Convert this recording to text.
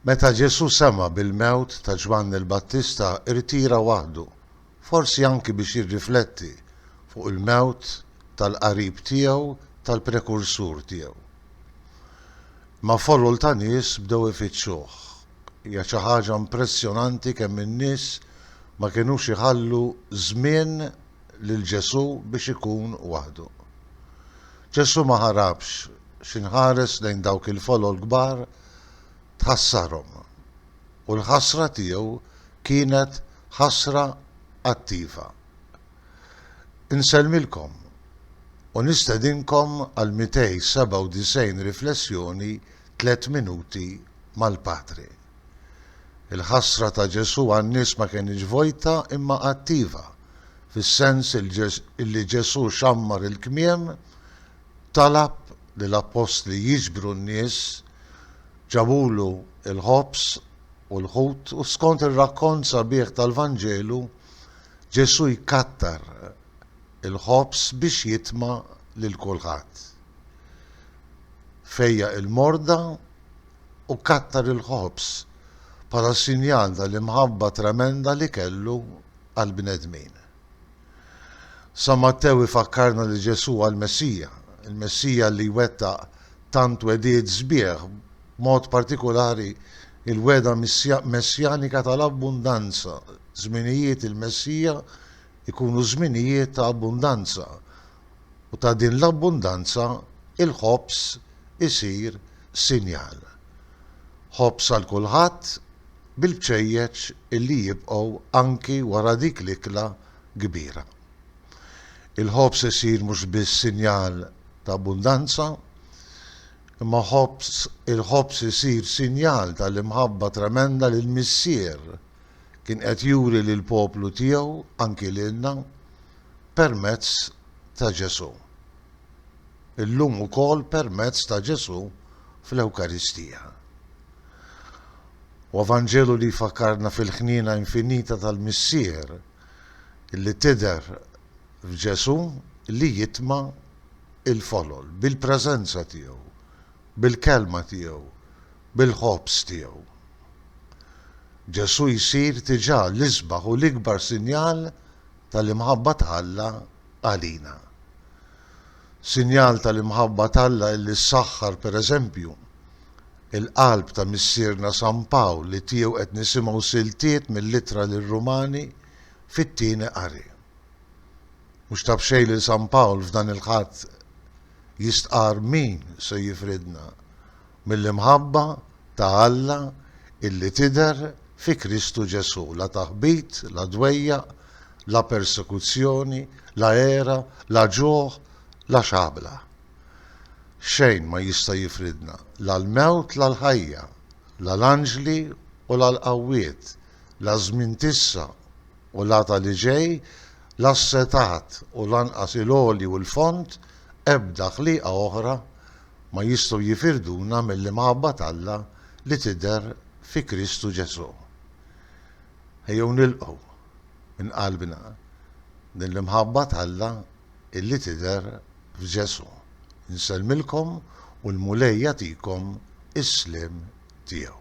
Meta Ġesù sema' bil-mewt ta' Ġwanni l-Battista rtira waħdu, forsi anki biex jirrifletti fuq il-mewt tal-qarib tiegħu tal-prekursur tiegħu. Imma folol ta' nies bdew ifittxuh. Hija xi ħaġa impressjonanti kemm in-nies ma kinux iħallu żmien lil Ġesù biex ikun waħdu. Ġesù ma ħarabx, xi nħares lejn dawk il-folol kbar tħassarhom. U l-ħasra tiegħu kienet ħasra attiva. Insellmilkom u nistedinkom għal 297 riflessjoni tliet minuti mal-Patri. Il-ħasra ta' Ġesù għan-nies ma kenitx vojta imma attiva, fis-sens li Ġesù xammar il-kmiem, talab lill-appostli jiġbru n-nies, ġabulu l-ħobż u l-ħut u skont ir-rakkont sabiħ tal-Vanġelu, Ġesù jkattar il-ħobż biex jitma' lil kulħadd. Fejjaq il-morda u kattar il-ħobż bħala sinjal tal-imħabba tremenda li kellu għall-bnedmin. San Mattew ifakkarna li Ġesù hu l-Messija, il-Messija li jwettaq tant wegħdiet sbieħ, b'mod partikulari l-wegħda messjanika tal-abbundanza, żminijiet il-Messija jkunu żminijiet ta' abbundanza, u ta' din l-abbundanza l-ħobż isir sinjal. Ħobż għal kulħadd bil-bċejjeċ li jibqgħu anki wara dik l-ikla kbira. Il-ħobż isir mhux biss sinjal ta' abbundanza, imma ħobż il-ħobż isir sinjal tal-imħabba tremenda li l-Missier kien qed juri lill-poplu tiegħu, anki lilna. permezz ta' Ġesù. Illum ukoll permezz ta' Ġesù fl-Ewkaristija. Huwa Vanġelu li jfakkarna fil-ħniena infinita tal-Missier li tidher f'Ġesù li jitma' l-folol bil-preżenza tiegħu, bil-kelma tiegħu, bil-ħobż tiegħu. Ġesù jsir diġà l-isbaħ u l-ikbar sinjal tal-imħabba ta' Alla għalina. Sinjal tal-imħabba t'Alla illi ssaħħar, per eżempju, il-qalb ta' Missierna San Pawl li tiegħu qed nisimgħu siltiet mill-Ittra lir-Rumani fit-Tieni Qari. Mhux ta' b'xejn li San Pawl f'dan il-Ħadd jistqarr min se jifridna. mill-imħabba ta' Alla illi tidher fi Kristu Ġesù, la taħbit, la dwejjaq, la persekuzzjoni, la għera, la ġuħ, la xabla. Xejn ma jista' jifridna, la l-mewt la l-ħajja, la l-anġli u la l-qawwiet, la ż-żmien t'issa u la ta' li ġej, la s-setgħat u lanqas il-għoli u l-fond, ebda ħliqa oħra, ma jistgħu jifirduna mill-imħabba t'Alla li tidher fi Kristu Ġesù. Ejjew nilqgħu, minn qalbna, din l-imħabba t'Alla illi tidher f'Ġesù. Insellmilkom u l-Mulej jagħtikom is-sliem tiegħu.